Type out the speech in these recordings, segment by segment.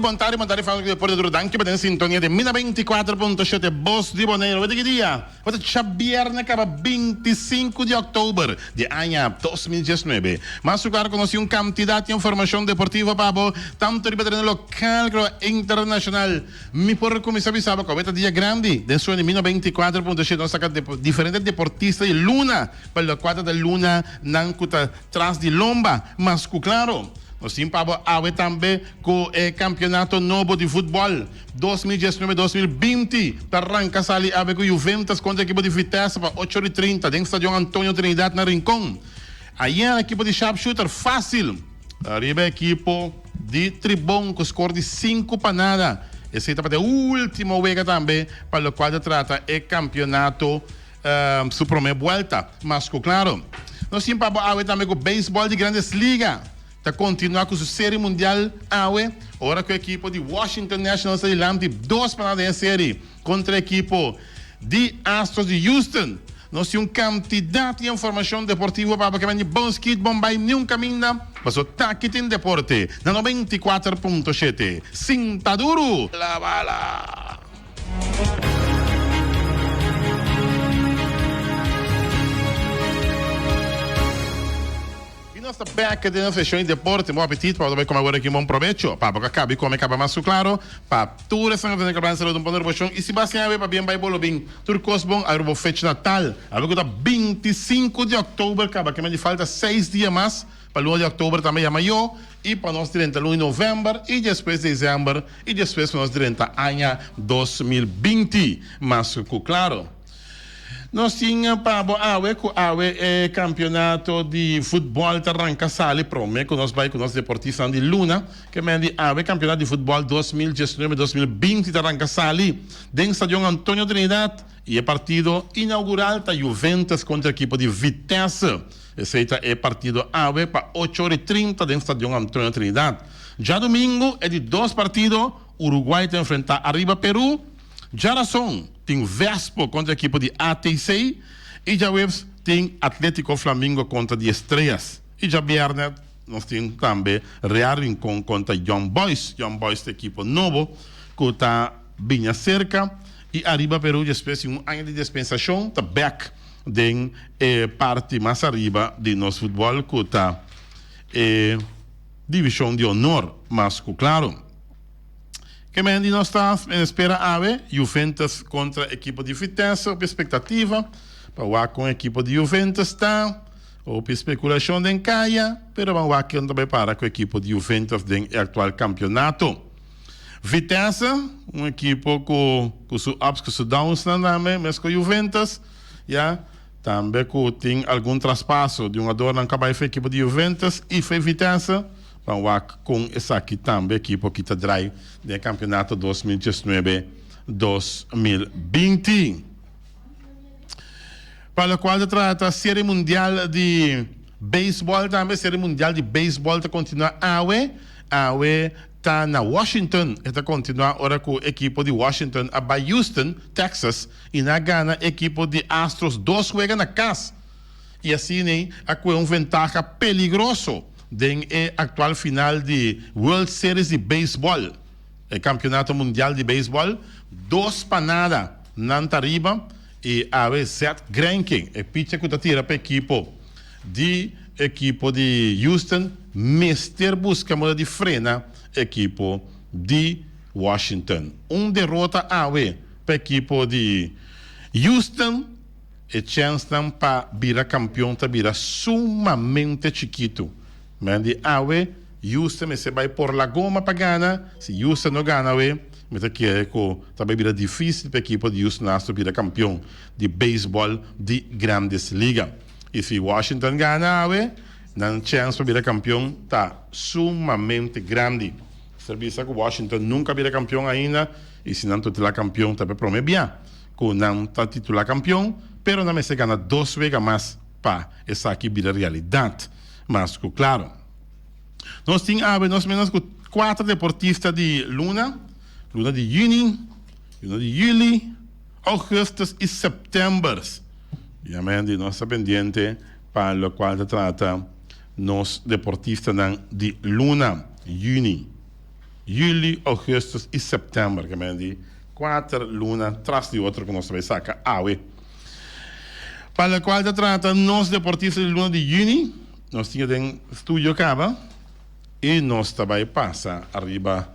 Bontari bontari famia di Deporte Duro danki pa den sintonia di Mina 94.7 Bos di Boneiru wete ki dia wete chabierna kaba 25 di oktober di aña 2019 mas suklaro konosi un kantidat informashon deportivo pa bo tanto riba tereno lokal ku riba internashonal Mi por kuminsá bisa bo ku awor ta dia grandi. Den suel di mil noventa i kuater punto shete nos saka diferente deportista di luna pa lua kuater ta luna nan ku ta tras di lomba. Mas ku klaro, nos tin pa bo awe tambe ku e kampionato nobo di futbòl dos mil diesnuebe, dos mil binti ta ranka sali awe ku Juventus kontra ekipo di Vitesse pa ocho ori trinta den Stadion Antonio Trinidad na Rincon. Ayera ekipo di Sharpshooter fasil. Ariba e ekipo di Tribon ku skor di sinku pa nada. Esei tabata e último wega tambe pa lokual ta trata e kampionato su promé buelta. Mas ku klaro, nos tin pa bo awe tambe ku beisbòl di Grandes Liga ta kontinuá ku su Serie Mundial awe, ora ku e ekipo di Washington Nationals ta dilanti dos pa nada den e serie. kontra ekipo di Astros di Houston. Nos tin un kantidat di informashon deportivo pa bo ke bini bon skit, bon bai niun kaminda. Paso taki tin deporte na noventa i kuater punto shete. Sinta duru la bala! Di nos ta bèk den seshon di deporte. Bon apetit pa bo ta bai kome awor aki. Bon probecho pa bo ka kaba i kome kaba mas. Su klaro pa tur esnan ku ta tende kabransa lo, un bon revolushon. I si bo a siña awe pa bien bai bolo bin tur kos bon awe pa bo fech natal, awe ku ta binti i sinku di òktober kaba aki mende. Falta seis dia mas pa luna di òktober tambe ya mayó i pa nos drenta luna di novèmber i despues desèmber i despues pa nos drenta aña dos mil binti mas. Su klaro. Nos tin pa bo awe cu awe e campeonato di futbol ta ranca sali prome cu nos bay cu nos deportistanan di luna. Ke men di awe campeonato di futbol dos mil diesnuebe, dos mil binti ta ranca sali den stadion Antonio Trinidad y e partido inaugural ta Juventus contra ekipo di Vitesse. Esey ta e partido awe pa ocho ora y trinta den stadion Antonio Trinidad. Djadomingo e di dos partido, Uruguay ta enfrenta Arriba Peru. Dja razon? tin Vespo kontra ekipo di ATC i djaweps tin Atletico Flamingo kontra di Estrellas i djabièrnè nos tin tambe Real Rincon kontra Young Boys. Young Boys ta ekipo nobo ku ta biña serka i ariba Peru despues di un aña di despensashon ta bèk den e parti mas ariba di nos futbòl ku ta e Divishon di Onor mas ku Claro. Ke men di nos ta espera awe? Juventus kontra ekipo di Vitesse, hopi spektativa pa wak kon ekipo di Juventus ta, hopi spekulashon den kaya, pero ban wak kion ta bai para ku ekipo di Juventus den e aktual kampionato. Vitesse, un ekipo ku ku su ups ku su downsnan tambe, mes ku Juventus, ya, tambe ku tin algun traspaso di un adornan ka bai for e ekipo di Juventus i for e Vitesse. Ban wak con esaki tambe ekipo ki ta draai den e campeonato dos mil diesnuebe, dos mil binti. Pa locual ta trata Serie Mundial di Baseball tambe. Serie Mundial di Baseball ta continua awe. Awe ta na Washington. E ta continua ora cu ekipo di Washington a bai Houston, Texas y nan a gana ekipo di Astros dos wega na cas. y asina ey a cohe un ventaha peligroso den e actual final di World Series di Baseball, e campeonato mundial di baseball, dos pa nada nan ta riba y awe Zack Greinke, e pitcher cu ta tira pa ekipo di ekipo di Houston mester busca manera di frena e ekipo di Washington. Un derota awe pa ekipo di Houston. E chènsnan pa bira kampion ta bira sumamente chikitu. Mester di awe Houston mester bai por la goma pa gana. Si Houston no gana awe, mi ta kere ku ta bai bira difísil pa e ekipo di Houston Astros bira kampion di beisbòl di Grandes Liga. I si Washington gana awe, nan chèns pa bira kampion ta sumamente grandi. Ser bisa ku Washington nunka a bira kampion ainda, i si nan toti la kampion ta p'e promé bia. ku nan ta titulá kampion, pero nan mester gana dos wega mas pa esaki bira realidat. Mas ku klaro, nos tin awe nos menos ku kuater deportista di luna, luna di yüni, luna di yüli, ògùstùs i sèptèmbèrs. Biamente nos ta pendiente pa lokual ta trata nos deportistanan di luna, yüni. Juli, Augustus i September ke menen di kuater luna tras di otro ku nos ta bai saka awe. Pa lokual ta trata nos deportista di luna di Juni, nos tin ya den studio kaba i nos ta bai pasa ariba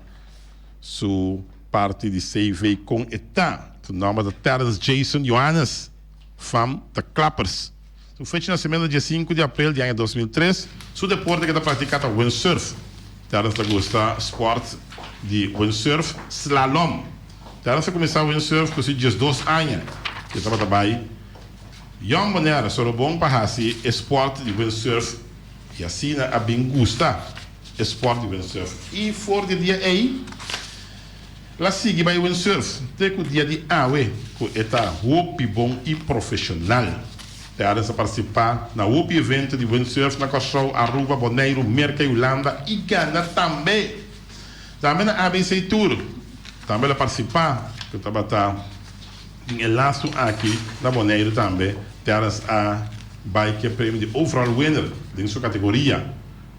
su parti di CV kon e ta. Su nòmber ta Terrence Jason Johannes, fam ta Clappers. Su fecha di nasementu ta diesinku di aprel di aña dos mil tres. Su deporte ke ta praktiká ta windsurf. Terrence ta gusta spòrt di windsurf slalom. Terrence a kuminsá windsurf ku su diesdos aña. E tabata bai Jòn Bonèr, Sorobon pa hasi e spòrt di windsurf i asina a bin gusta e spòrt di windsurf. I for di e dia ei. La sigui bai windsurf te ku dia di awe ku e ta hopi bon i profeshonal. Terrence a partisipa na hopi evento di windsurf na Kòrsou, Aruba, Boneiru, Merka i Hulanda i gana tambe. Tambe na ABC Tour tambe el a partisipa ku tabata den e lastu aki na Boneiru tambe Terrence a bai ku e premio di overall winner den su kategoria.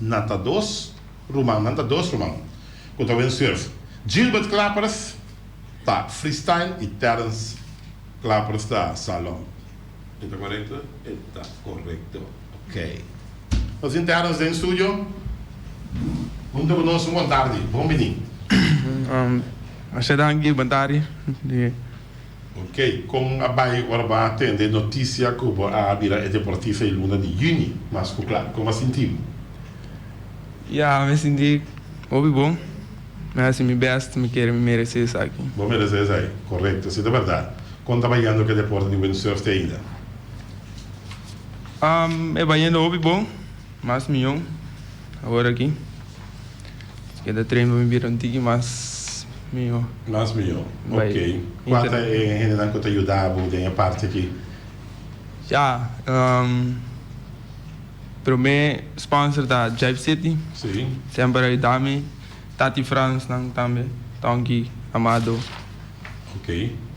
Na ta dos ruman, nan ta dos ruman ku ta wen surf, Gilbert Klappers ta freestyle i Terrence Klappers ta salon. E ta korekto? E ta korekto. Ok. Nos tin Terrence den studio. Hunta ku nos un bon tardi. Bon bini. Asha ta Gilbert Tari. Ok, kon a bai ora bo a atende e notisia ku bo a bira e deportista e luna di yüni? Mas ku kla, kon a sinti bo? Ya, mi a sinti hopi bon. Mi a hasi mi bèst, mi kere mi meresé esaki. Bo meresé esaki, korekto. Si ta bèrdat, kon ta bayendo ku e deporte di windsurf te ainda? E bayendo hopi bon, mas mihó awor aki. Esaki ta train pa mi bira un tiki mas miho. Mas miho, ok. Kua ta e hendenan ku ta yuda bo den e parti aki? Ya, promé sponsor ta Jive City, semper a yuda mi, Tati Frans nan tambe, Tonki, Amado,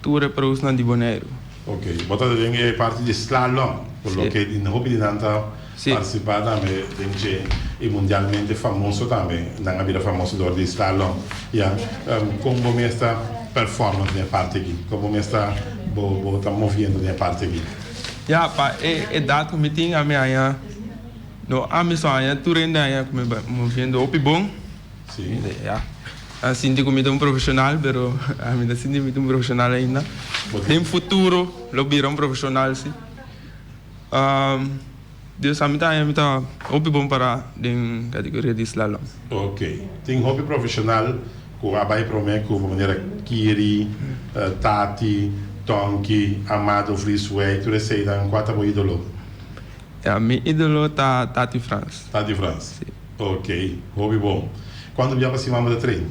tur e pro's nan di Boneiru. Ok, bo ta den e parti di slalom, por lo ke di hopi di nan ta partisipa tambe den dje, i mundialmente famoso tambe, nan a bira famoso dor di slalom, ya. Kon bo mester performa den e parti aki? Kon bo mester bo ta moviendo den e parti aki? Ya, pa e edat ku mi tin, ami aña, no, ami so aña tur hende aña ku mi moviendo hopi bon. Si. Ya. A sinti ku mi ta un profeshonal, pero mi ta sinti mi ta un profeshonal ainda. Den futuro lo bira un profeshonal, si. Dios a mi ta haña mi ta hopi bon pará den kategoria di slalom. Ok. Tin hopi profeshonal ku a bai promé ku pa manera Kiri, Tati, Tonki, Amado, Vries, Wei, tur eseinan. Kua ta bo ídolo? Ya, mi idolo ta Tati Frans. Tati Frans. Si. Ok, hopi bon. Kuantu bia pa siman bo ta train?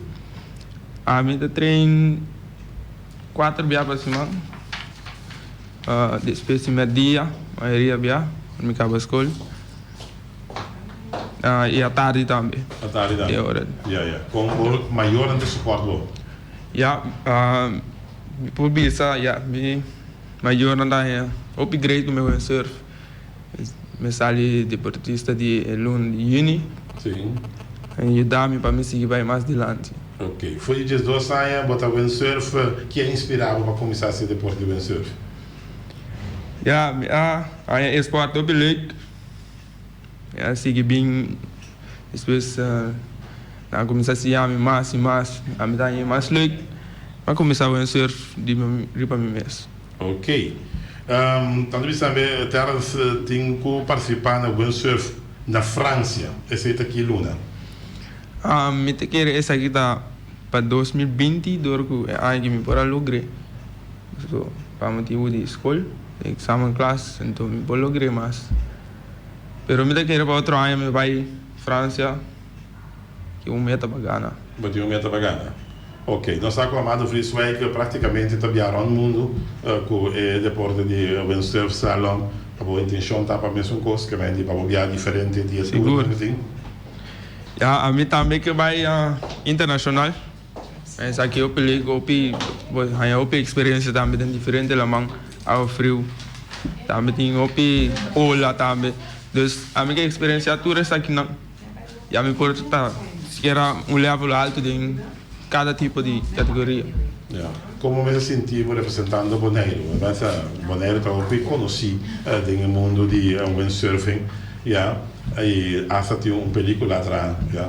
Ah, mi ta train kuater bia pa siman. Despues di merdia, mayoria bia, ora mi kaba skol. I atardi tambe. Atardi tambe. E ora. Ya, ya. Kon bo mayornan ta soport bo? Ya, mi por bisa, ya, mi. Mayornan ta haña hopi great ku mehó en surf. Mi a sali deportista di e lun di yüni. A yuda mi pa mi sigui bai mas dilanti. Ok. For di diesdos aña bo ta windsurf. Ke a inspirá bo pa kuminsá hasi e deporte di windsurf? Ya, mi a haña e sport hopi leuk. Mi a sigui bin. Despues nan a kuminsá siña mi mas i mas. Ami ta haña e mas lek. Mi a kuminsá wenser riba mi mes. Ok. Tando bisa n'e Terence tin ku partisipá na windsurf na Fransia. Esei ta ki luna? Mi ta kere esaki ta pa dos mil binti dor ku e aña ki mi por a logr'é. So pa motibu di skol, di eksamen klas, anto mi por logr'é mas. pero mi ta kere pa otro aña mi bai Francia cu un meta pa gana. Bo tin un meta pa gana? Ok, nos sa cu Amado Vries Wijk practicamente ta bia rond mundo cu e deporte di windsurf slalom, pa bo intencion ta pa mesun cos, kier mende pa bo bia diferente di e tur nan cu tin? Ya, ami tambe ke bai internacional. Esaki hopi lek, hopi bo haña hopi experiencia tambe den diferente laman, awa friu, tambe tin hopi ola tambe, dus ami ke experiencia tur esakinan y ami por ta sikiera un level alto den cada tipo di categoria. Ya, como mester sinti bo representando Boneiru? Wèradat? Boneiru ta hopi conoci den e mundo di windsurfing, ya, y hasta tin un pelicula atrás, ya.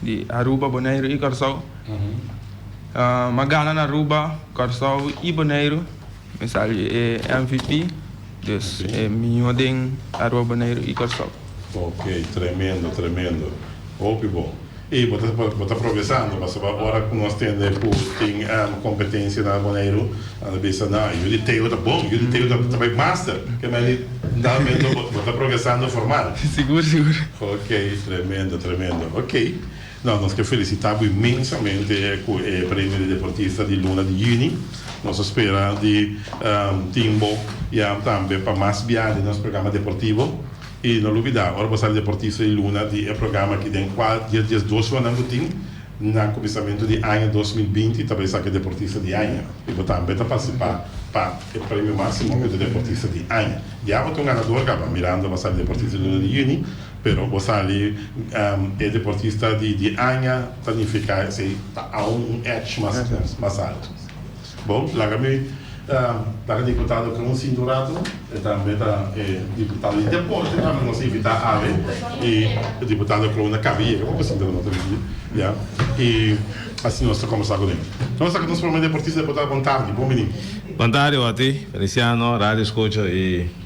Di Aruba, Boneiru i Kòrsou. M'a gana na Aruba, Kòrsou i Boneiru. Mi sali e MVP, dus e mihó den Aruba, Boneiru i Kòrsou. Ok, tremendo, tremendo. Hopi bon. I bo ta progresando, pasobra ora ku nos tende ku tin kompetensia na Boneiru. Nan a bisa, Na, yu di Teo ta bon, yu di Teo ta bai master, kema di tal momento bo ta progresando formal. Sigur, sigur. Ok, tremendo, tremendo. Ok, no, nos ke felisita bo inmensamente ku e Premio di Deportista di Luna di Juni. Nos a spera di tin bo ya tambe pa mas biaha den nos programa deportivo. I no lubida, ora bo sali Deportista di Luna di e programa aki den kual di e dies dos shonan bo tin, Na kuminsamentu di aña dos mil binti ta bai saki Deportista di Aña i bo tambe ta partisipá pa e premio másimo ku ta Deportista di Aña. Ya bo ta un ganador kaba, Miranda bo sali Deportista di Luna di Yüni, pero bo sali e Deportista di Aña ta nifiká esei ta aun un ech mas altu. Bon, laga mi laga diputado Kunsi un rato, e tambe ta e diputado di deporte, a nos invita awe, i e diputado Klou na kabi yega pa presenté nan otro dia, ya, i asina nos ta kombersá kuné. Nos ta ku nos prome deportista, depotado, bon tardi, bon bini. Bon tardi oti, Feliciano, radio skucho i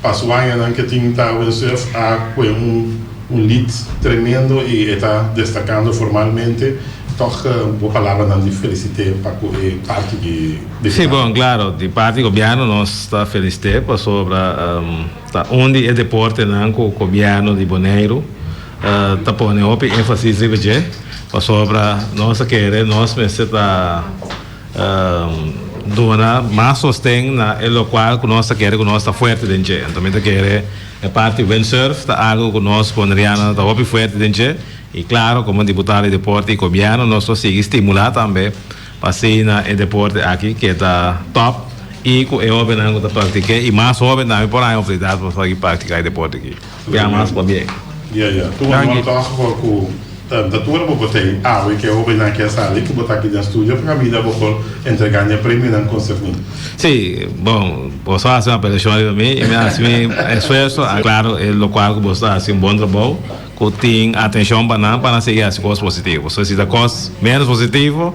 Pa su añanan ke tin ta UNCF a kue un lead tremendo y e ta destacando formalmente, tog bo palabranan di felicite pa cu e parti di Gobierno. Si bon, claro, di parti Gobierno nos ta felicite pasobra ta un di e deportenan cu Gobierno di Boneiru ta pone hopi enfasis riba dje, pasobra nos ta kere nos mester ta. Duna mas sosten na e lokual ku nos ta kere ku nos ta fuerte den dje. Anto mi ta kere e parti windsurf ta algu ku nos ku Andriana ta hopi fuerte den dje. I klaro komo diputado di deporte i gobièrnu nos lo sigui stimulá tambe pa asina e deporte aki keda tòp i ku e hobennan ku ta praktik'é i mas hoben tambe por haña oportunidat pa por sigui praktiká e deporte aki. Gracias mas por bien. Ya ya tur manda un aplauso for cu ta da tur bo bo ten awe ke hobe nan ke sali cu bo ta aki den studio pa caminda bo por entrega ña premio nan con segun. Sí, bon, boso a haci un apelacion riba mi y mi a haci mi esfuerzo, a claro e locual cu boso ta haci un bon trabou cu tin atencion pa nan pa nan sigui haci cos positivo. So si ta cos menos positivo.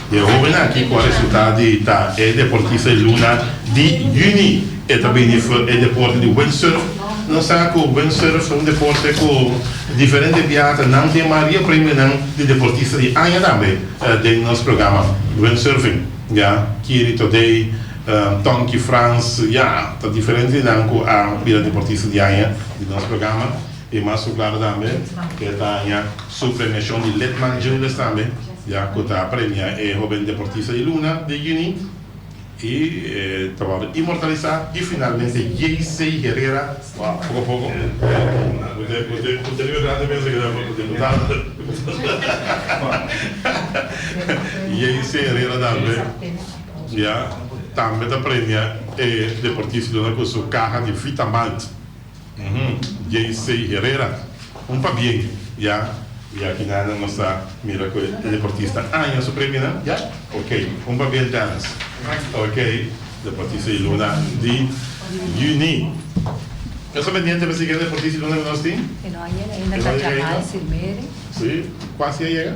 E hóbennan aki ku a resultá di ta e deportista di luna di yüni e ta bini for e deporte di windsurf. Nos sa ku windsurf ta un deporte ku diferente biaha ta nan den maria premionan di deportista di aña tambe den nos programa windsurfing. Ya Kiri Todei, Tonki Frans, ya ta diferente di nan ku a bira deportista di aña di nos programa. E mas ku klaro tambe ku e ta haña su premiashon di Litman Juniors tambe. ya cu ta premia e hoben deportista di Luna den juni y ta worde inmortaliza y finalmente JC Herrera poco a poco JC Herrera tambe ya tambe ta premia e deportista di Luna cu su caha di Vitamalt. Uhum JC Herrera un pabien ya. Y aki nada nos ta mira cu e deportista aña su premio nan ya ok un pabien Dance ok deportista y Luna di Juni eso pendiente mi sigue deportista y Luna nos tin e no a yega ainda si cuasi a yega.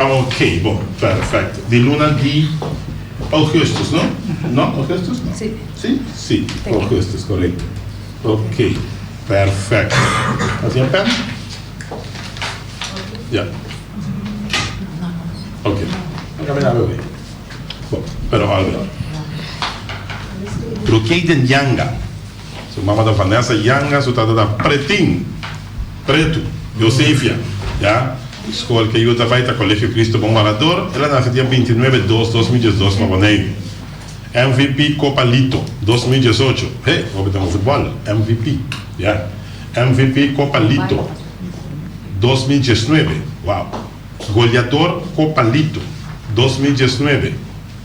Ok, bo, perfecto. Di luna di Augustus, no? No? Augustus, no? Si. Si? Si, Augustus, corecto. Ok, perfecto. Así un pen? Ya. Ok. No camina, bebé. Bo, pero algo. Lo que hay den yanga. Su mama ta Vanessa Yanga, su tata ta Pretin, Pretu, Josefia, ya. E skol ke yu ta bai ta Colegio Cristo Bon Barador. El a nase dia binti nuebe dos, dos mil diesdos pa Boneiru. MVP Copa Lito, dos mil diesocho. He, hopi ta un futbol, MVP, ya. MVP Copa Lito, dos mil diesnuebe, wow. Goleador Copa Lito, dos mil diesnuebe.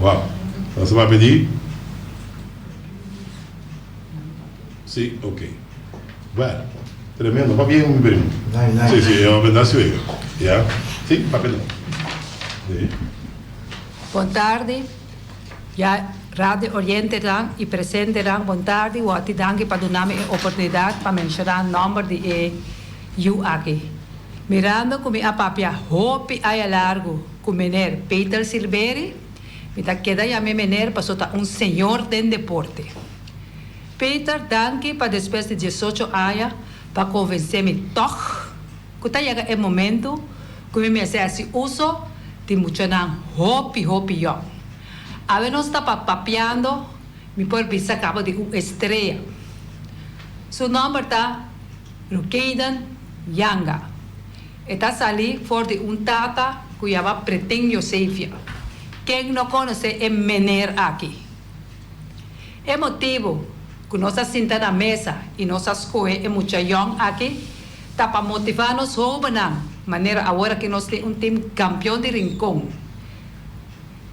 Wow. Nan sa papia di? Si, ok. Well, tremendo. Papia e mi primo. Nice, nice. Si, si, e hombre ta suegro. Ya. Si, papia no. Si. Bon tardi, ya Radio Orientenan y presentenan, bon tardi. Woti danki pa duna mi e oportunidad pa menciona nomber di e yu aki. Mirando cu mi a papia hopi aña largu. Cu meneer Peter Silveri, mi ta keda yam'e meneer paso ta un señor den deporte. Peter, danki pa despues di diesocho aña pa convence mi toch cu ta yega e momento cu mi mester haci uso di muchanan hopi hopi yong. Awe nos ta pa papiando mi por bisa cabo di un estrella. Su nomber ta Rukeyden Yanga. E ta salí for di un tata ku yama Pretén Yosefia. Ken no konosé e meneer aki? E motibu ku nos a sinta na mesa i nos a skohe e mucha yòn aki ta pa motivá nos hóbennan manera awor ki nos tin un tim kampion di Rincon.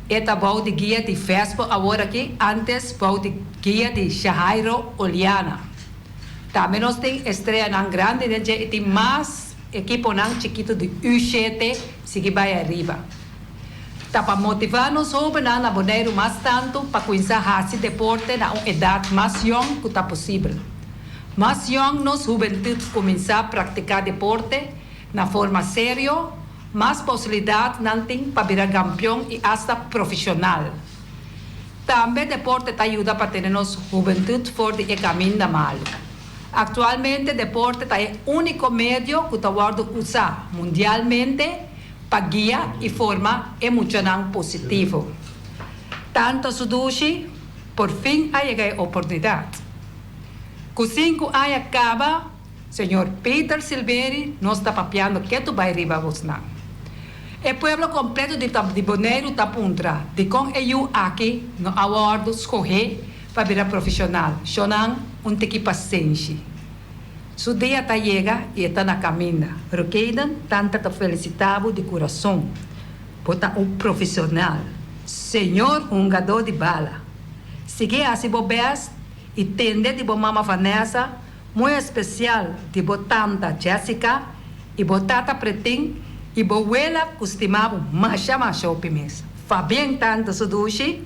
E ta bou di guia di Vespo awor aki, ántes bou di guia di Shahairo Oliana. Tambe nos tin estreanan grandi den dje i tin mas. Ekiponan chikitu di UCT sigui bai ariba. Ta pa motivá nos hóbennan na Boneiru mas tantu pa kuinsá hasi deporte na un edat mas yòn ku ta posibel. Mas yòn nos hubentut kuminsá praktiká deporte na forma serio, mas posibilidat nan tin pa bira gampion i asta profeshonal. Tambe deporte ta yuda pa tene nos hubentut for di e kaminda malu. Aktualmente deporte ta e úniko medio ku ta wòrdu usá mundialmente pa guia i forma e muchanan positivo. Tanto su dushi por fin a yega e oportunidat. Ku sinku aña kaba, señor Peter Silveri nos ta papiando ke tu bai riba abosnan. E pueblo kompleto di Boneiru ta puntra dikon e yu aki no a wòrdu skohé. pa bira profesional. Shonan un tiki pasenshi. Su dia ta yega y e ta na caminda. Pero Kayden tanta ta felicita bo di curason. Bo ta un profesional. Señor hungador di bala. Sigui haci bo best y tende di bo mama Vanessa, muy especial di bo tanta Jessica y bo tata Pretin y bo wela cu stima bo masha masha hopi mes. Fabien tanta su dushi.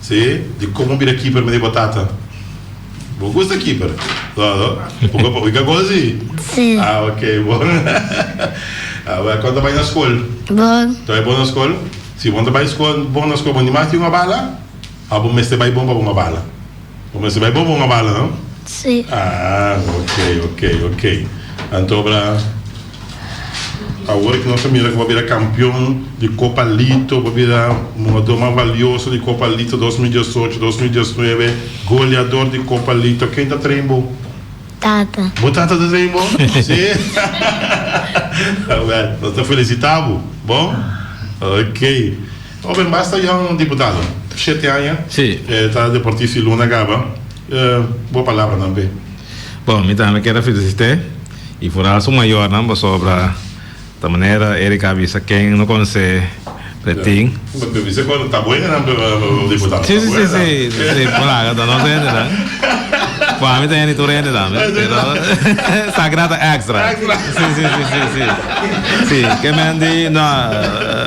Sí, di como bira keeper mi di bo tata? Bo gusta keeper? No, no? Bo ka boga gol si? Sí. Ah, ok, bon. Ah, bueno, cuando bai na school? Bon. Ta bai bon na school? Sí, cuando bai school, bon na school, bo ni mas tin una bala? Of bo mester bai bon pa bo una bala? Bo mester bai bon pa una bala, no? Sí. Ah, ok, ok, ok. Anto, bra. Awor ki nos a mira ku bo a bira kampion di Kopa Lito, bo a bira un hugador mas valioso di Kopa Lito dos mil diesocho, dos mil diesnuebe, goleador di Kopa Lito, ken ta train bo? Tata. Bo tata ta train bo? Si? Awor, nos ta felisitá bo. Bon? Ok. Hoben, basta Jan Diputado, shete aña Si. e ta deportista di Luna Gaba. E bo palabra nan pe. Bon, mi tambe keda felisit'é. Y furá su mayornan pasobra ta manera Erica a bisa ken no conoce Pretin. Bo ta bisa cuando ta buen nan pero nan diputado ta buen nan. Sí, sí, sí, por aca ta nos hende nan. Por ami ta hende tur hende tambe, pero Sagra ta extra. Extra. Sí, sí, sí, sí, sí. Sí, ke men di no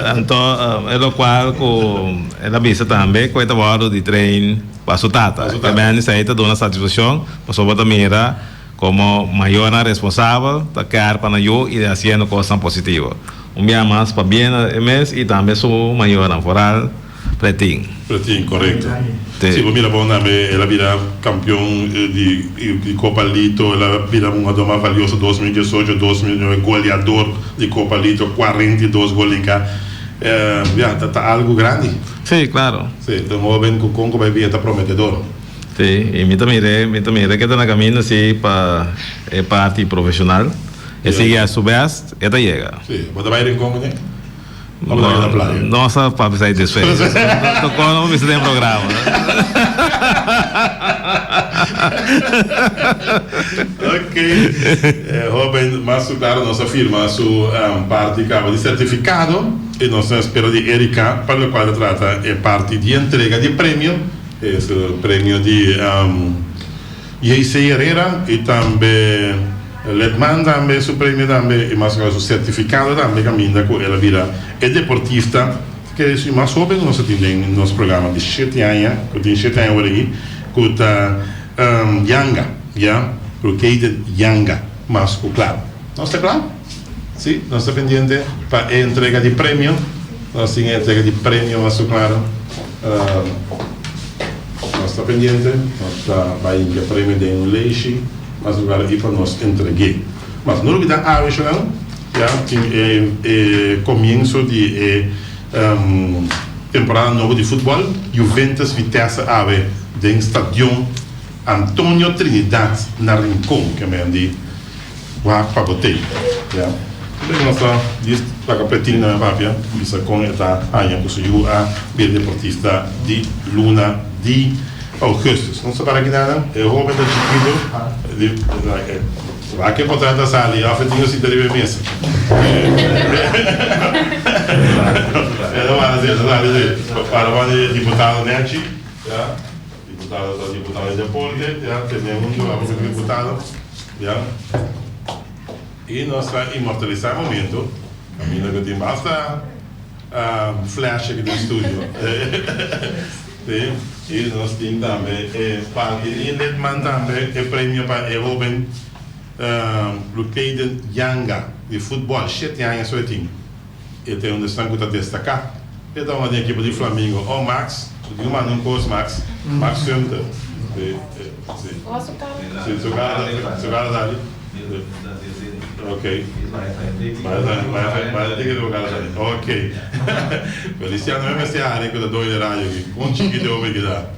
anto e locual cu el a bisa tambe cu e ta wordo di train pa su tata. Pa su tata. Ke men di esei ta duna satisfaccion pasobra ta mira. Komo mayornan responsabel ta kèr pa nan yu i den hasiendo kosnan positivo. Un bia mas pa bien e mes i tambe su mayornan foral Pretin. Pretin, korekto. Si bo mira bon tambe el a bira kampion di Kopa Lito, el a bira un hougador mas valioso dos mil diesocho, dos mil nuebe, goleador di Kopa Lito, kuarenta i dos gol den ka. Ya, ta algu grandi. Si, klaro. Si, ta un hóben ku kon ku bai bia ta prometedor. Sí, y mi ta mir'é, mi ta mir'é ke ta na camino sí pa e parti profesional. E sigui a su best, e ta yega. Sí, bo ta bay rincon mené? O bo ta keda playa? No sa pa bisa e desfecho. No sa ta con bo bisa den e programa. Ok, e hoben mas su claro nos a firma su parti cabo di certificado y nos ta espera di Erica pa locual ta trata e parti di entrega di premio. Es premio di JC Herrera y tambe Letman tambe su premio tambe y mas su certificado tambe caminda cu el a bira e deportista ta kere si mas hoben cu nos a tin den nos programa di shete aña cu tin shete aña ora aki cu ta Yanga ya Rukeyden Yanga mas cu cla nos ta cla si nos ta pendiente pa e entrega di premio nos tin e entrega di premio mas cu claro. Nos ta pendiente, nos ta bai hinca premio den un leishi mas lugar aki pa nos entregue. Mas no olbida awechanan ya tin e comienso di e temporada nobo di futbal, Juventus Vitesse awe den stadion. Antonio Trinidad na Rincon ke men di wak pa botey ya Kende ku nos ta di laga pretin nan papia bisa kon e ta haña ku su yu a bira deportista di luna di Augustus nos ta para aki nannan e hoben ta chikito wak e kontrata a sali of e tin un sita riba e mesa esaki ta para asina esaki ta para asina para wan e diputado Nechi ya. Diputado ta diputado dja Porke ya tene un trabajo como diputado ya y nos ta inmortaliza momento pa mi no tin basta flash aki den estudio si y nos tin tambe e parke y Lidman tambe e premio pa e hoben Lucaden Yanga di football shete aña so e tin E ta un esnan cu ta destaca. E ta un aden ekipo di Flamingo. Oh, Max, bo tin cu manda un cos, Max. Max Sunter. Be, eh, si. Wacht, su cara ta. Si, su cara ta, su cara ta ali. Ok. Bay ta, bay ta, bay ta tin kende bo cara ta ali. Ok. Feliciano, me mester hari cu ta doy de radio aki. Con chikiti e homber keda.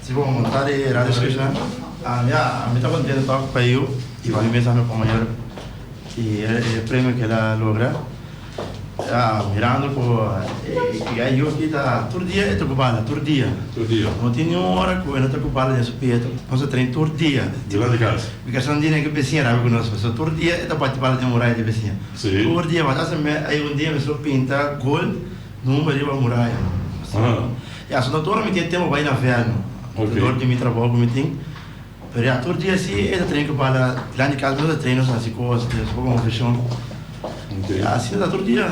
Si bo mo ta di Radio Scription a ya a mi ta contento tok pa yu y pa mi mes a mi compañero y e premio que el a logra ya mirando cu e yu aki ta tur dia e ta ocupa ala tur dia tur dia no tin ni un hora cu e no ta ocupa ala den su pie ta hasi train tur dia debajo di casa mi casa no tin aki vecina rabi cu nos pues so tur dia e ta bati pala den un raya di vecina si tur dia mas hasta mi bay un dia mi so pinta gold. No mumba riba muraya no. Ya so ta ora mi tin tempo bai na vea no. Te dor di mi trabou ku mi tin. Pero ya tur dia si e ta trei ku bala plan di kalki no ta trei nos na si kosa si nos bo konfeshon. Ya asina ta tur dia.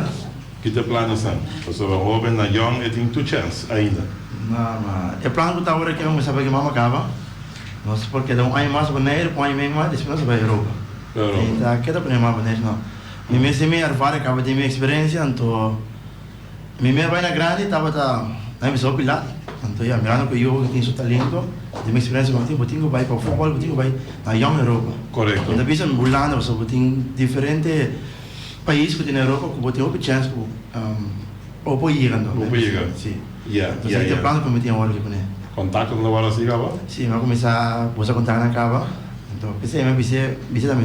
Kita planes nan. Pasobra hoben na yong e tin tur chens ainda. Na ma e plan ku ta ora ke misa pa ke mama kaba nos por keda un aña mas Bonaire un aña men mas despues nos a bai Europa. Europa. Tin ta ke ta pone mama Bonaire no. Mi mes tin mi erfar e caba tin mi experiencia, anto mi mer bai na grandi tabata na mi bisa hopi lat, anto ya mirando cu e yuwe cu tin su talento, cu tin mi experiencia cu a tin, bo tin cu bai pa futbol, bo tin cu bai na Young Europa, Correcto. mi ta bisa Hulanda pasobra bo tin diferente pais cu tin na Europa cu bo tin hopi chance cu bo por yega no, Bo por yega. si, Ya, entonces ya, e ya. plan cu mi tin awor aki pone. Contacto ta tabara así caba? Si, mi a cuminsa busa contactnan caba, anto p'esei mi a bis'e, bis'e ta mi.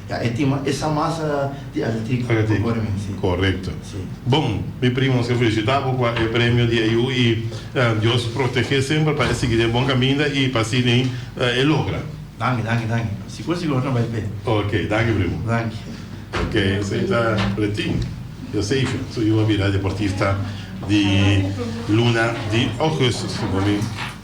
Ya, e tima Esa masa di atletic ku kore mi, si. Korekto. Bon, mi primo Oscar felisitá bo kua e premio di AU i Dios protegé semper pa e sigui den e bon kaminda i pa asina e logra. Danki, danki, danki. Si kos di ora no bai p'e. Ok, danki primo. Danki. Ok, esei ta Retin Eusebio, su yu a bira deportista di luna di Augustus, su fami.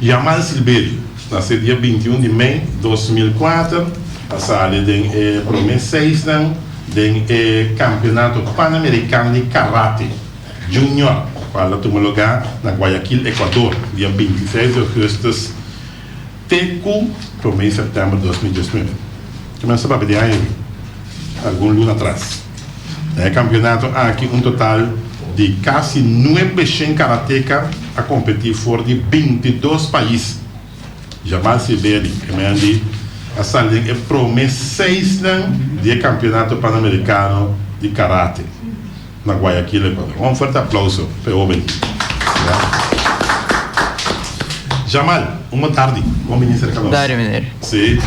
Yamal Silberio, nasé dia binti un di mei dos mil kuater, a sali den e promé seisnan den e Kampionato Panamerikano di Karate Junior, kual a tuma lugá na Guayaquil, Ekuador, dia binti seis di ougùstus. Te ku promé sèptèmber dos mil diesnuebe, ku nan tabata di aña awe algun luna atras, na e kampionato aki un total di kasi nuebe shen karateka a kompetí for di binti dos pais. Jamal Sibeli primer di a sali den e promé seisnan di e Kampionato Panamerikano di Karate. na Guayaquil, Ecuador. Un fuerte aplauso pa e hoben aki. Jamal, un bo tardi. Bon bini serka nos. Dario meneer. Si.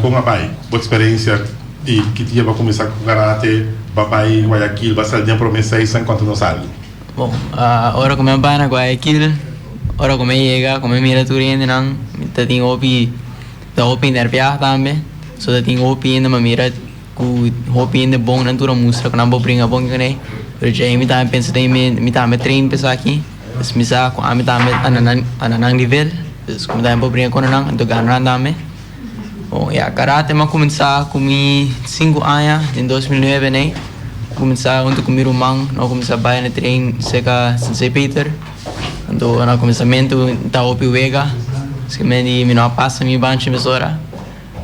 Kon a bai bo experencia y ki dia bo cuminsa cu karate? Bo bai Guayaquil, bo sal den prome season, conta nos algo. Bon, ora cu mi a bai na Guayaquil, ora cu mi a yega, cu mi a mira tur hendenan, mi ta tin hopi, ta hopi nerviá tambe. So ta tin hopi hende mi a mira. Ku hopi hende bon nan tur a mustra ku nan por bringa bon kuné, pero dje ei mi tambe pensa den mi, mi tambe a train pa esaki, pues mi sa ku ami tambe a na a na nan nivel, pues ku mi tambe por bringa konta nan, anto gana nan tambe. Bon, ya karate mi a kuminsá ku mi sinku aña, den dos mil nuebe n'ei, mi a kuminsá huntu ku mi ruman, nan a kuminsá bai na train serka Sensei Peter, anto na kuminsamentu ta hopi wega, paskementi mi no a pasa mi banchi mesora,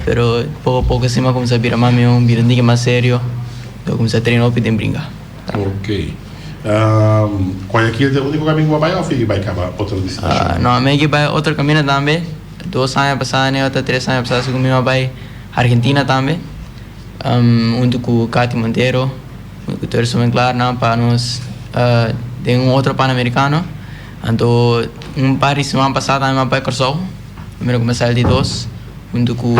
Pero poco poco así m'a cuminsa bira mas mihó, bira un tigre mas serio y a cuminsa trena hopi den bringa. Ok. Guayaquil ta e unico camin cu bo a bay of yegi bay caba otro destinacion? No, mi a yegi bay otro caminnan tambe. Dos aña pasada ne ota tres aña pasada si cu mi a bay Argentina tambe hunto cu Cathy Montero, hunto cu Terzo Menglar nan pa nos den un otro pan americano. Anto un par di siman pasada tambe mi a bay Cursow. Primero comenzá el di dos hunto cu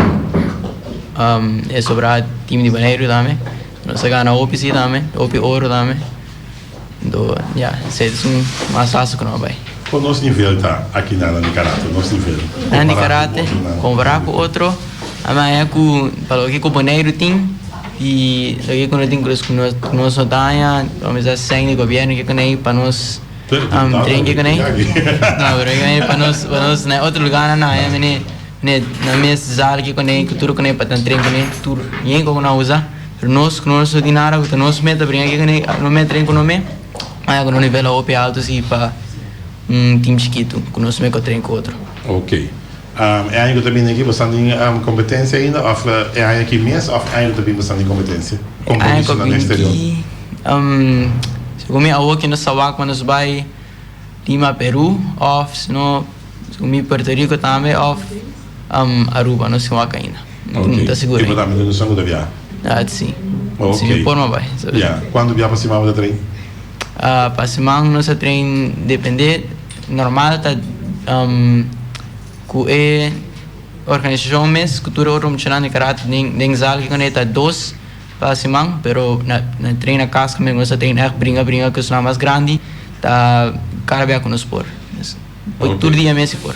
e sobrá team di Boneiru tambe. Nos a gana hopi sí tambe, hopi oro tambe. Anto ya, sey es un masazo cu nos a bay. Cu nos nivel ta aki na nan di karate, nos nivel, Nan di karate compará cu otro, a maya cu pa loke cu Boneiru tin y loke cu no tin, cu nos no ta haña, lo mester seng di gobierno ke con ey pa nos. Um drinki ku nai. No, bro, i mene pa nos, pa nos na otro lugar nan haya mene ne na mes zalki ku nai ku tur ku nai pa ta drenki ku nai tur bien ku nan usa. Pero nos ku no ta tin nada ku ta nos meta bringa aki ku nai no meta den ku no me haya ku no nivel a hopi alto si pa un tim chikitu ku nos me kotren ku otro. Okay. E aña ku ta bini aki bo sa nin kompetensia ainda òf e aña aki mes òf aña ku ta bini bo sa nin kompetensia? Kompromiso na eksterior. Segun mi awo ki nos ta wak pa nos bai Lima, Peru òf sino segun mi Puerto Riko tambe òf Aruba. Nos tin wak ainda. Okay. Ta segura. Kiba tambe nos a muda biaha? Ah, si. Okay. Si mi por mi a bai. Ya. Cuantu biaha pa siman bo ta train? Ah, pa siman nos a train depende. Normal ta cu e organisacion mes, cu tur e otro muchanan di karate den, den zal ki kende ta dos pa siman, pero na, na train na cas cu nos ta train echt bringa bringa cu esnan mas grandi ta cada bia cu nos por. Oi tur dia mes si por.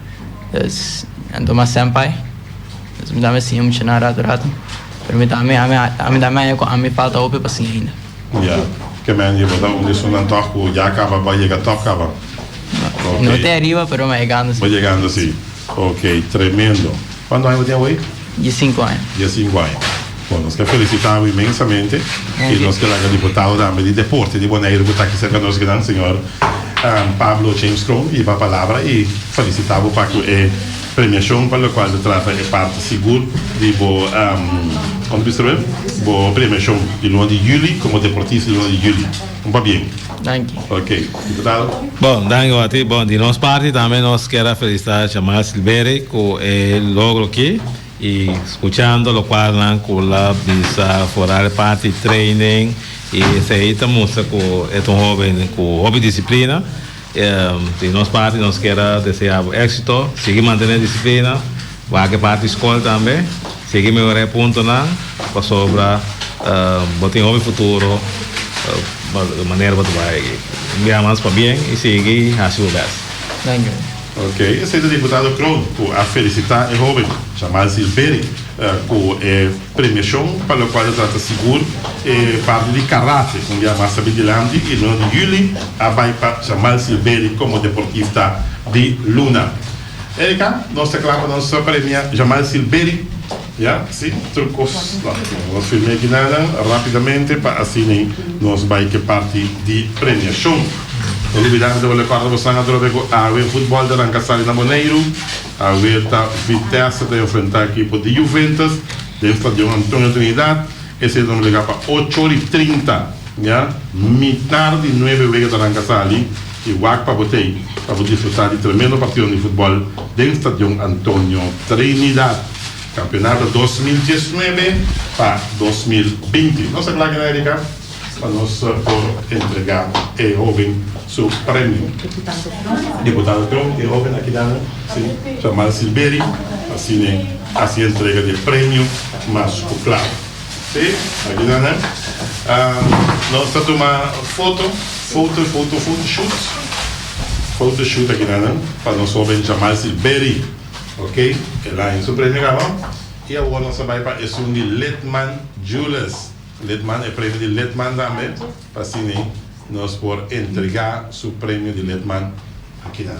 Pues, anto mas senpai, pues mi tambe siña muchanan ratu ratu, pero mi tambe, ami tambe haña cu ami falta hopi pa siña ainda. Ya, ke men di bo ta un esun antoh cu ya a caba, ba yega toh caba. No te ariba, pero mi a yegando si. Ba yegando si, ok, tremendo. Cuantu aña bo tin awey? Dies sinku aña. Dies sinku aña. Bon, nos ta felisita bo inmensamente y nos ta laga diputado tambe di deporte di Bonaire cu ta aki cerca nos gran señor Pablo James Kroon iba palabra y felisita bo pa cu e premiacion pa lo cual ta trata e parti sigur di bo como ta bisa bo? Bo premiacion di luna di juli como deportista di luna di juli. Un pa bien. Danki. Ok, diputado. Bon, danki Wati. Bon, di nos parti tambe nos kier a felisita Shamal Silveri ku e logro aki. I skuchando lokual nan ku el a bisa foral e parti training i esei ta mustra ku e ta un hoben ku hopi disiplina. Di nos parti nos kier a deseabo éksito. Sigui mantene disiplina. Wak e parti skol tambe. Sigui mehorá e puntonan pasobra bo tin hopi futuro manera bo ta bai aki. Bia mas pa bien i sigui hasi bo bèst. Daño. Ok, esei ta Diputado Kroon ku a felisitá e hóben Jamal Silveri ku e premiashon pa lokual ta trata sigur e parti di karate un bia mas ta bin dilanti i luna di juli a bai pa Jamal Silveri komo deportista di luna. Erika, nos ta kla pa nos premia Jamal Silberi, ya, si, tur kos ta nos firme aki nada rapidamente pa asina nos bai ke parti di premiashon. No lubida antes bo rekorda boso nan atrobe ku awe futbòl ta ranka sali na Boneiru, awer ta Vitesse ta enfrentá ekipo di Juventus den Stadion Antonio Trinidad, esei ta obligá pa ocho ora i trinta, ya, mitar di nuebe wega ta ranka sali, I wak pa bo tei pa bo disfrutá di tremendo partion di futbòl den Stadion Antonio Trinidad, Campeonato dos mil diesnuebe pa dos mil binti. Nos a blaki na Erika pa nos por entregá e hoben su premio. Deputado Trump, e hoben aki nan, si, Jamal Silberi, asine hasi e entrega di e premio mas ku kla. Sí, aki ta nan. Nos ta tuma foto, foto, foto, foto shoot. Foto shoot aki ta nan, pa nos hopi a bicha mas di Berry, ok. E lain su premio kaba. I awor nos ta bai pa esun di Litman Jewelers. Litman, e premio di Litman tambe, pa asina nos por entrega su premio di Litman aki nan.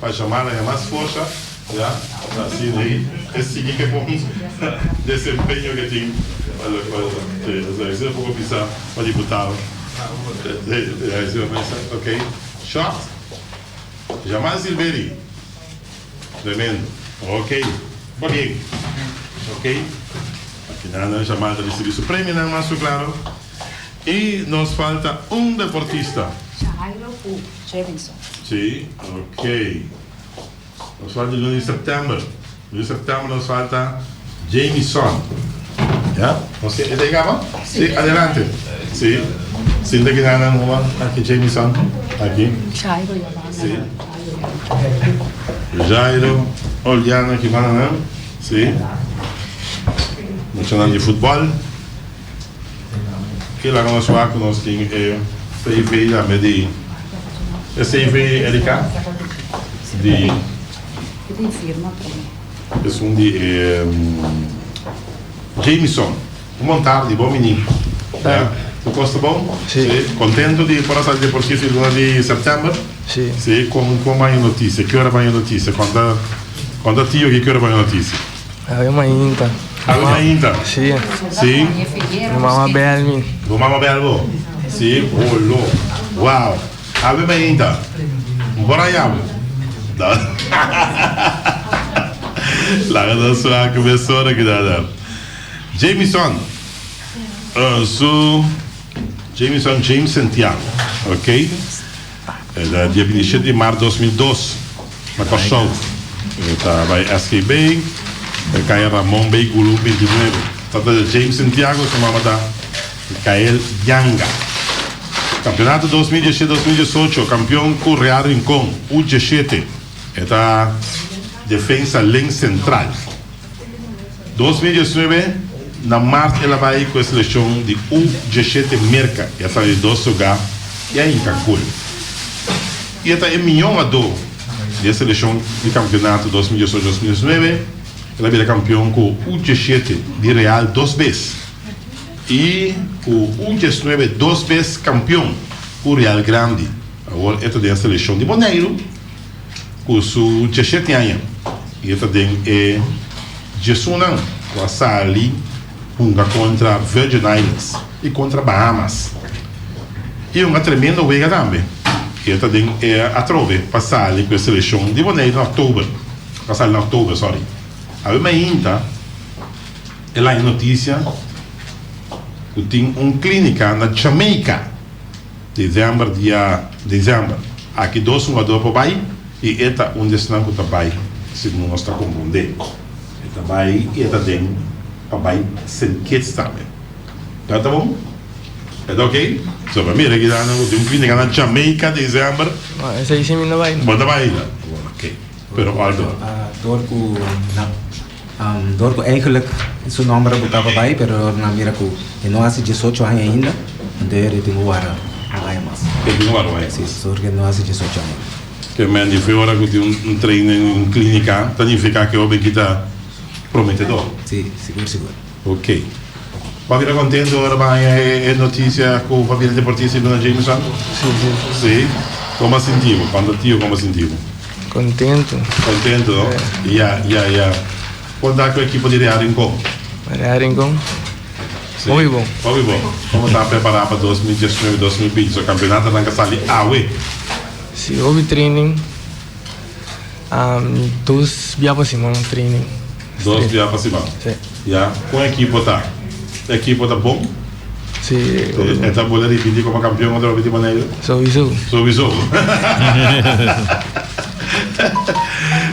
Pa shama nan e mas forsa, ya, ta así rey e sigui ke bon desempeño ke tin pa lo ke wòrdu sa. Oye, José Luis a poko bisa pa diputado, rey a hesi un mesa, ok, short, shama Silveri, tremendo, ok, ta bien, ok, al final nan shama ta risibi su premio nan mas su klaro, y nos falta un deportista. Jevison. Sí ok nos falta luna di september luna di september nos falta Jamison ya nos tin esei kaba sí adelante sí sin ta kina nan hoba aki Jamison aki sí Jairo Oliano ki mananan sí muchanan di futbal. Kila nos wak ku nos tin e CV tambe di e CV Erika di esun di e Jamison un bon tardi bon mini ya ku kosta bon si kontento di por a sali dje por si di luna di September si kon kon baña notisia ki ora baña notisia konta konta tio ki ki ora baña notisia. Ela mi mainta. A mi mainta? Si. Si. Mi mama bel mi. Bo mama bel bo? Si. Oh lo. Wow. A mi mainta. Mi por a yam? Da. Laga nos swak ku mesora ki ta da. Jamison. Uh, so, Jamison James Santiago. Ok. Dia bini e siete di mart dos mil dos na Kòrsou e ta bai SKB e kaya Ramon Bay Gulu binti nuebe. Tata ta James Santiago e su mama ta Mikael Yanga. Kampionato dos mil diesisiete dos mil diesocho kampion ku Real Rincon U diesete e ta Defensa Lens Sentral. Dos mil diesnuebe, na mart el a bai ku e selekshon di U diashete Merka i a sali di dos sogá i a hinka gol. I e ta e mihó hugadó di e selekshon di kampionato dos mil diesocho, dos mil diesnuebe. El a bira kampion ku U diashete di Real dos bes i ku U diesnuebe dos bes kampion ku Real Grandi. Awor e ta den e selekshon di Boneiru. ku su djashete aña i e ta den e djesunan ku a sali hunga kontra Virgin Islands i kontra Bahamas. I hunga tremendo wega tambe i e ta den e atrobe pa sali ku e selekshon di Boneiru na oktober, pa sali na oktober, sòri. Awe mainta e laña notisia ku tin un klínika na Jamaica. December dia December aki dos hugador por bay y e ta un di esnan cu ta bay segun nos ta comprende. E ta bay y e ta den pa bay Saint Kitts tambe. Nan ta bon? E ta ok? So pa mira aki nan cu tin un fin de cana Jamaica December. Bo ta bay la? Ok, pero alto. Dor ku eigenlik su nòmber a botaba bai pero dor nan mira ku e no hasi diesocho aña ainda anto e ritin ku wara no haya mas. E tin ku wara no haya mas. Si, dor ku e no hasi diesocho aña ainda. Ke men di fe ora ku tin un trein den un kliniká ta nifiká ke hobenki ta prometedor? Si, sigur sigur. Ok. Papi ta contento ora bo haña e noticia cu papi ta deportista y lo na Jameson? Sí, sí. Sí? Como a sinti bo? Cuando tio como a sinti bo? Contento. Contento, no? Ya, ya, ya. Por ta cu equipo di Real Rincon? Real Rincon? Sí. Hopi bon. Hopi bon. Como ta prepara pa dos mil diesnuebe, dos mil binti? So campeonato arranca sali awe? Sí, hopi training. Dos bia pa siman training. Dos bia pa siman. Sí. Ya. Con equipo ta? E equipo ta bon? Sí. E ta bole ripiti como campeón otra vez riba neyo? Sowiso. Sowiso.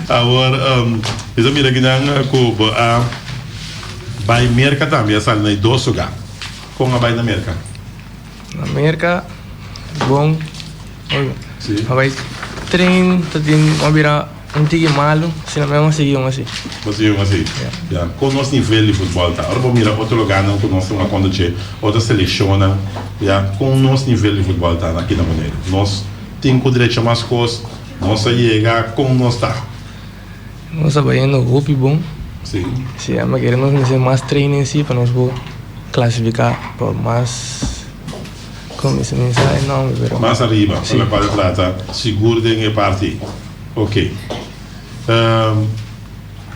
Awor bisa mira kinan cu bo a bay Merca tambe a sali na e dos lugar. Con a bay na Merca? Na Merca es bon a bai train ta tin a bira un tiki malu asina mi a sigui un asi. Bo sigui un asi ya con nos nivel di futbol ta ora bo mira otro logarnan cu nos ta wak conduce otro seleccionnan ya con nos nivel di futbol ta aki na Boneiru nos tin cu drecha mas cos nos a yega con nos ta. Nos a bayendo hopi bon. Si a mester nos mester mas training si pa nos por clasifica pa mas como mi esaki sa e nomber pero. Mas ariba pa lo cual trata sigur den e parti ey ok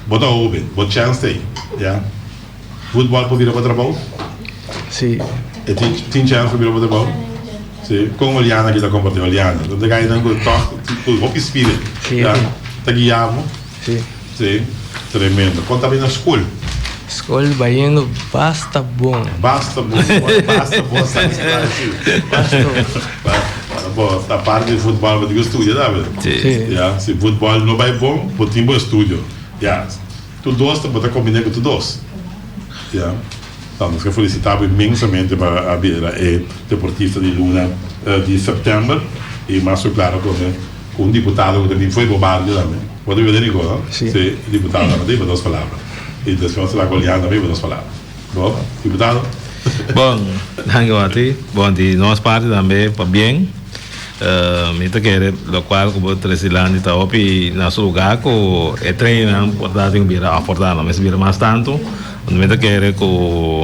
bo ta hoben bo chance ta ey ya. Voetbal por bira pa trabao? Sí. E tin tin chance pa bira pa trabao? Sí. Con Oliana kita comparti Oliana. Tanto que ainan cu tok cu hopi spirit. Sí, Ya. tin. Ta guia bo? Sí. Sí. Tremendo. Con ta bay na school? School bay yendo basta bon. Basta bon. Con basta bon sa ki sta así. Basta bon. Ba- ba- Bo ta parte di voetbal bo tin cu studia tambe. Sí. Sí. Ya. Si voetbal no bay bon, bo tin bo estudio. Ya. Tu dos tabata combiné cu tu dos. Ya. Ta, nos ta felicita bo inmensamente pa a bira e deportista di luna di september. Y mas cu claro tambe cu un diputado cu ta bin fo'i bo barrio tambe. Bo ta wit'e, Rico? Si. Si. Diputado tambe ta iba dos palabra. Y despues nos ta laga Olian tambe iba dos palabra. Bo, diputado. Bon, danki Orti. Bon, di nos parti tambe pa bien. Mi ta kere lokual ku bo tres di landi ta hopi na su lugá ku e treinnan por ta tin bira òf por ta no mester bira mas tantu. Huntu mi ta kere ku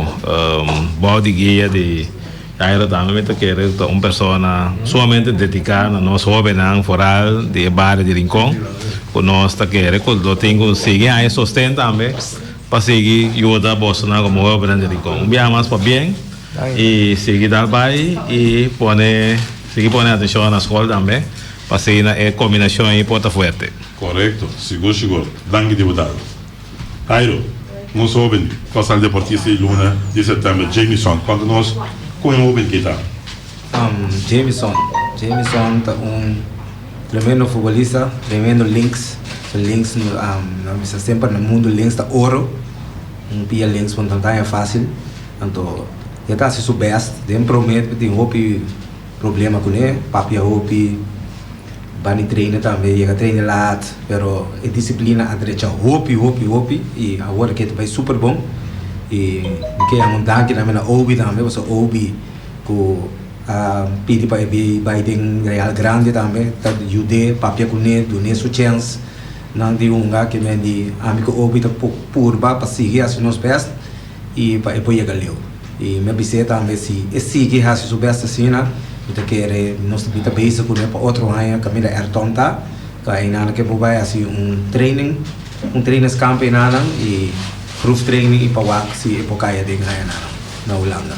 bo di guia di Jairo tambe mi ta kere ta un persona sumamente dediká na nos hóbennan foral di e bario di Rincon ku nos ta kere ku lo tin ku sigui haña sosten tambe. Pa sigui yuda bosonan ku muhe obrinan di Rincon un biaha mas pabien i sigui dal bai i pone sigui pone atencion na skol tambe pa sigui na e kombinashon ei por ta fuerte. Korekto, sigur sigur. Danki diputado. Jairo, nos hoben kosal deportista di luna di septèmber Jamison konta nos kon e hoben ke ta. Jamison Jamison ta un tremendo futbolista tremendo links so links nan bisa semper na mundo links ta oro un pia links por nan gaña facil anto e ta haci su best den prome tin un hopi problema cune papia hopi bani traina tambe yega traina laat pero e disciplina a drecha hopi hopi hopi y awor e keda bai super bon y mi ke yama un danki tambe na Oby tambe pasobra Oby Cu a pidi pa e bai den real grandi tambe, ta yud'é papia cu n'é, dun'é su chens. Nan di hunga ke men di ami cu Obi ta por purba pa sigui haci nos best y pa e por yega leu. Y mi a bis'é tambe si e sigui haci su best asina, mi ta kere nos ta bita beza cu n'é pa otro aña caminda er turn ta, ta enana ke bo bai haci un training, un trainingskamp enana y proeftraining y pa wak si e por caya den añanan na Hulanda.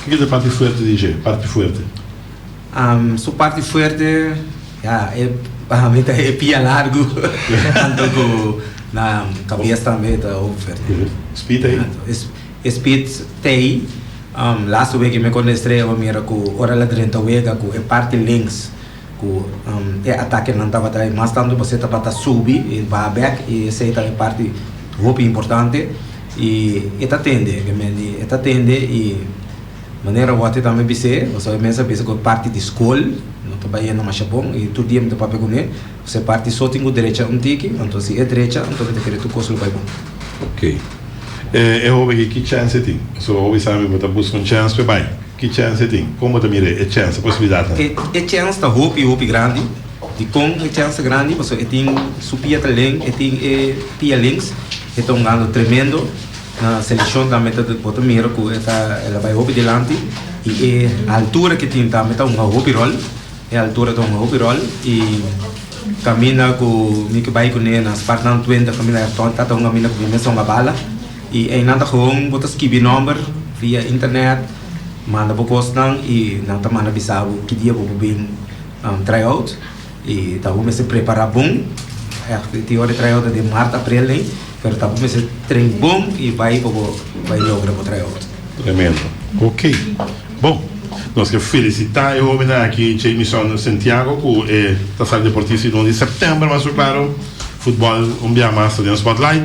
Kiko ta e parti fuerte di Jé? Parti fuerte? Su parti fuerte, ya, e, pa mi ta e pia largu, tanto ku na kabes tambe ta hopi fuerte. Spit ei? E spit t'ei, lastu wiki mi konde estresa mi mira ku ora el a drenta wega ku e parti links, Ku e atakenan tabata e mas tantu pasobra e tabata subi e baha bek i esei ta e parti hopi importante i e ta tende obviamente e ta tende i manera wòter tambe bis'é pasobra e mester bisa ku e parti di skol no ta bai henda masha bon i tur dia mi ta papia kuné pasobra e parti so tin ku derecha un tiki anto si e drecha anto mi ta kere tur kos lo bai bon. E e hobe aki ki chance e tin? So hobe sabi bo ta buska un chance pe bai. Ki chance e tin? Kon bo ta mira e chance, e posibilidat nan? E chance ta hopi hopi grandi. Dikon e chance ta grandi? Paso e tin su pia ta len, e tin e pia links, e ta un gando tremendo na selekshon tambe ta bo ta mira ku e ta el a bai hopi dilanti i e altura ki tin tambe ta hunga hopi rol. E altura ta un hopi ròl i kaminda ku mi ke bai kuné na Spartan Twente Familia Hertog ta ta un kaminda ku mi mes a hunga bala. I einan ta hon bo ta skibi nòmber via internet, manda bo kosnan i nan ta manda bisa bo ki dia bo por bin tryout. I ta bo mester prepará bon. Ti hora di tryout ta den mart aprel nei, pero ta bo mester train bon i bai pa bo bai logra bo tryout. Tremendo. Ok. Bon, nos ke felisitá e hóbennan aki, Jamison Santiago ku e ta sali deportista di nos di sèptèmber, mas su klaro, futbòl un bia mas ta den spòtlait,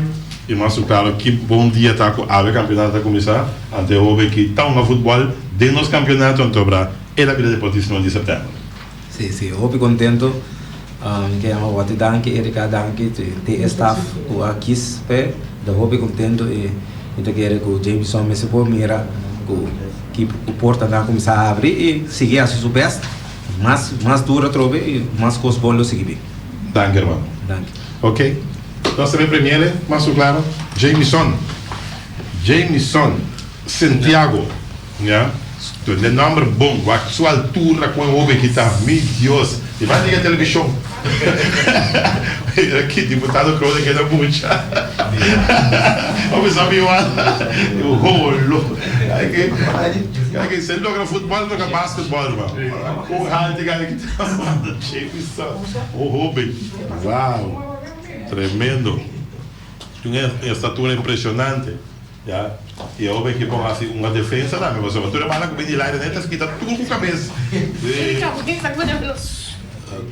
i mas su klaro ki bon dia ta ku awe kampionato ta kuminsá, ante e hóben ki ta hunga futbòl den nos kampionato, anto a bira el a bira deportista di nos di sèptèmber. Si si hopi contento mi ke yama Watty danki Erica danki te e staff cu a kies p'e mi ta hopi contento y mi ta kere cu Jamison mester por mira cu ki portanan a cuminsa abri y sigi haci su best mas mas duro atrobe y mas cos bon lo sigi bin. Danki hermano. Danki. Ok nos ta den premiere mas cu claro Jamison Jamison Santiago. Ña, Don den nomber bon wak su altura ku e hobe ki ta, mi Dios, i manda e televishon. Mira ki diputado Croes a keda mucha. Bo mi sa miwal un holo. Aki si e logra futbòl e logra basketbòl riba un hante gana ki ta manda che mi sa un hobe wow tremendo. Tin un estatura impresionante. Ya y awo beki bon hasi un defensa tambe pasobra tur e bala cu bini Leiden enta skita tur cu cabes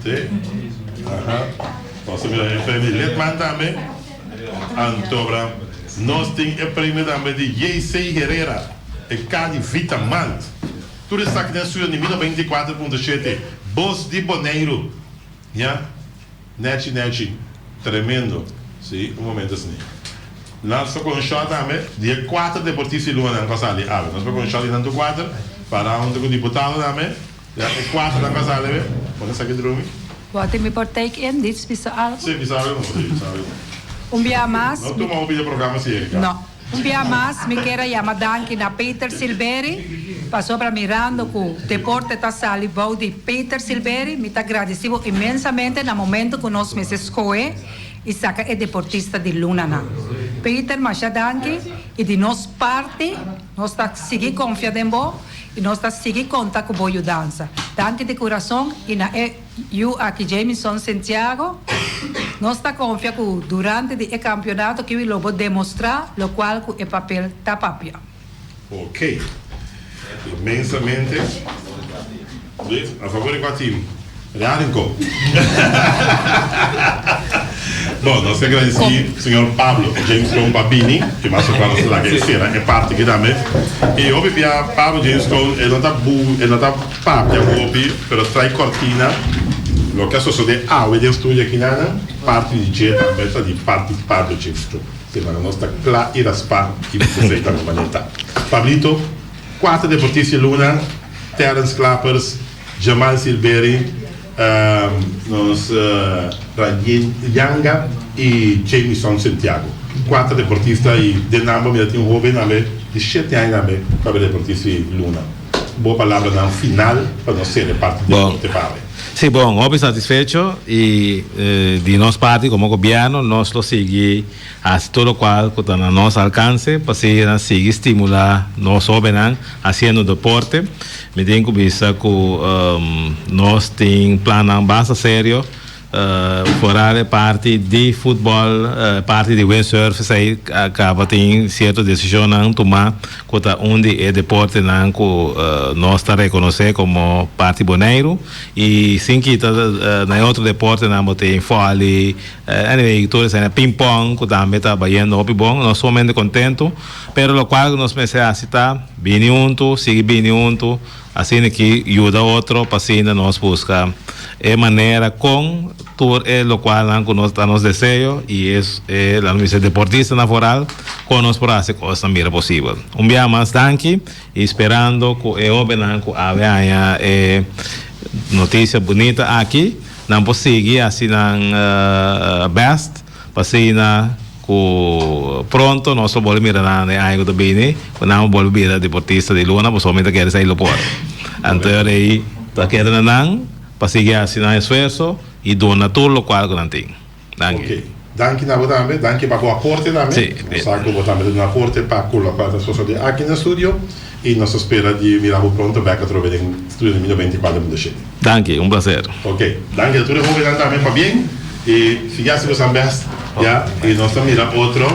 te aha nos a mira e premio Litman tambe antoobra nos tin e premio tambe di JC Herrera e Cadi Vita Malt tur esaki den studio di mi noventa y kuater punto shete bos di Boneiru ya. Nechi nechi tremendo si un momento asini nan sta con short tambe di e cuater deportista y lunga nan a sali awe nan sta con short y nan tu cuater para hunto cu diputado tambe ya e cuater nan a sali awe pone esaki drumi. Wou tin mi por take in Dits bisa algo? Sí bisa algo no sí bisa algo no. Un biaha mas mi. No tuma hopi de programa si e ka. No. Un bia mas mi kier a yama danki na Peter Silveri pasobra mirando ku deporte ta sali bou di Peter Silveri mi ta gradisi bo inmensamente na momento ku nos mester skohe i saka e deportista di lunanan. Peter masha danki i di nos parti nos ta sigui konfia den bo i nos ta sigui konta ku bo yudansa. Danki di kurason i na e. Yu aki Jamison Santiago. Nos ta konfia ku durante di e kampionato kiwi lo bo demostrá lokual ku e papel ta papia. Ok. Inmensamente. Luis, a favor di kua tim? Real den kop. Bon, nos ta agradesí señor Pablo Jamison pa bini i mas atrás nos ta laga e sera e parti aki tambe. I hopi bia Pablo Jamison e no ta bu e no ta. Papia hopi, pero trai cortina. Loke a sosode awe den studio aki nana, parti di dje tambe ta di parti pardo dje. Sin embargo nos ta cla y raspa y di cosey tambe maneta. Pablito, cuater de Morticia Luna, Terrence Clappers, Jamal Silberi, nos Rangin Yanga y Jamison Santiago. Cuater deportista y den nan bo mira tin hobe nambe di shete aña nambe papia deportista y Luna. Bo palabranan final pa nos sere parti di Bon. Corte Bawe. Sí, bon, hopi satisfecho i di nos parti como gobierno nos lo sigui haci tur locual cu ta na nos alcance pa así nan sigui stimula nos hobennan haciendo deporte. Mi tin cu bisa cu nos tin plannan basta serio. Foral e parti di futbol e parti di windsurf esei a caba tin cierto decisionnan tuma cu ta un di e deportenan cu nos ta reconoce como parti Boneiru y sin kita na e otro deportenan bo tin volley anyway tur esei na ping pong cu tambe ta bayendo hopi bon nos sumamente contento pero locual nos mester haci ta bini hunto sigui bini hunto Asina ki yuda otro pa sinda nos buska e manera con tur e locualnan cu nos ta nos deseo y e laga mester deportistanan foral con nos por haci cosnan mira posibel. Un bia mas danki y sperando cu e hobennan cu a haña e noticia bunita aki nan por sigui haci nan best. P'asina cu pronto nos lo bolbe mira nan e aña cu ta bini, cu nan a bolbe bira deportista di luna, pasobra mi ta kere sa e lopor. Anter ey ta kere na nan pa sigui haci nan esfuerzo y duna tur locual cu nan tin. Danki. Ok, danki na bo tambe, danki pa bo aporte tambe. Si, bien. Bo sa cu bo tambe ta duna aporte pa cu locual ta sosode aki na studio. Y nos ta spera di mira bo pronto bek atrobe den Studio de Miño Beinticuater Mundo Shete. Danki, un placer. Ok, danki a tur e hobennan tambe pabien y sigui haci bosan best, ya, y nos ta mira otro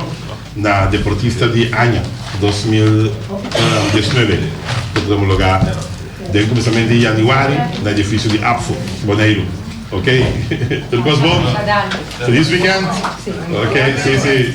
na Deportista di Aña dos mil diesnuebe cu ta homologa den cuminsamentu di Januari na edificio di Apfo, Boneiru. Ok, tur cos bon. Feliz weekend. Ok, si, si.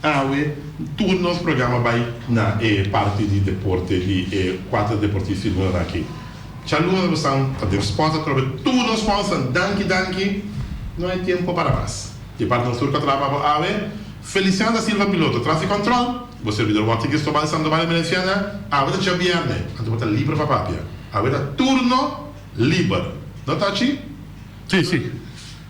Awe tur nos programa bai na e parti di deporte di e cuater deportista di lunanan aki. Cha luna nos tan ta den sport atrobe di tur nos fansnan. Danki danki. No hay tiempo pa para mas. Di parti nos tur cu a traha pa bo awe, Feliciano da Silva piloto traffic control, bo servidor Walter Cristobal Sandoval e Merenciana, awe ta djabierne anto bo ta liber pa papia. Awe ta turno liber. No ta achi? Si si.